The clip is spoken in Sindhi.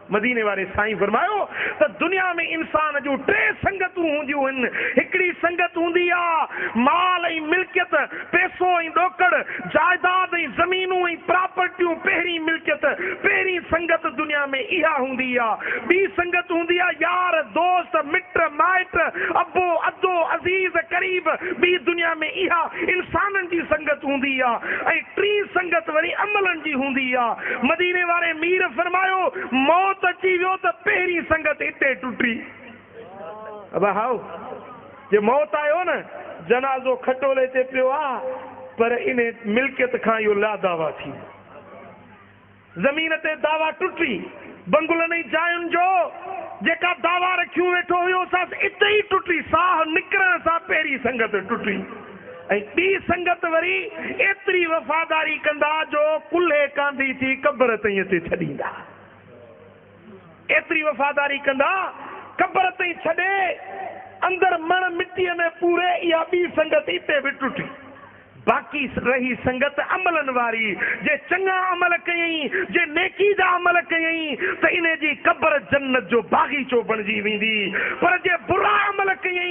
مديني واري سائين فرمايو ته دنيا ۾ انسان جون ٽي سنگتون هونديون هن، هڪڙي سنگت هوندي آ مال ۽ ملڪيت، پيسو ۽ ڏوڪڙ، جائداد ۽ زمينون ۽ پراپرٽيون پهرين ملڪيت، پهرين سنگت دنيا ۾ اها هوندي آ، ٻي سنگت هوندي آ يار، دوست، مٽ مائٽ، ابو، ادو، عزيز، قريب، ٻي دنيا ۾ اها انسانن جي سنگت هوندي آ ۽ ٽين سنگت وري عملن جي هوندي آ. مديني واري مير فرمايو، موت اچي ويو ته پهرين سنگت اتي ٽٽي. ابا هائو، جي موت آيو نه، جنازو کٽولي تي پيو آ، پر انهي ملڪيت کان اهو لا دعويٰ ٿي ويو. زمين تي دعويٰ ٽٽي. بنگلن ۽ جاين جو جيڪا دعويٰ رکيون ويٺو هيو، سا اتي ئي ٽٽي. ساهه نڪرڻ سان پهرين سنگت ٽٽي. ۽ ٻي سنگت وري ايتري وفاداري ڪندا جو ڪلهي ڪانڌي ٿي قبر تائين اتي ڇڏيندا. ايتري وفاداري ڪندا قبر تائين ڇڏي اندر مڻ مٽيء ۾ پوري اها ٻي سنگت اتي به ٽٽي. باقي رهي سنگت عملن واري جي چڱا عمل ڪيائين جي نيڪي جا عمل ڪيائين ته انهي جي قبر جنت جو باغيچو بڻجي ويندي پر جي برا عمل ڪيائين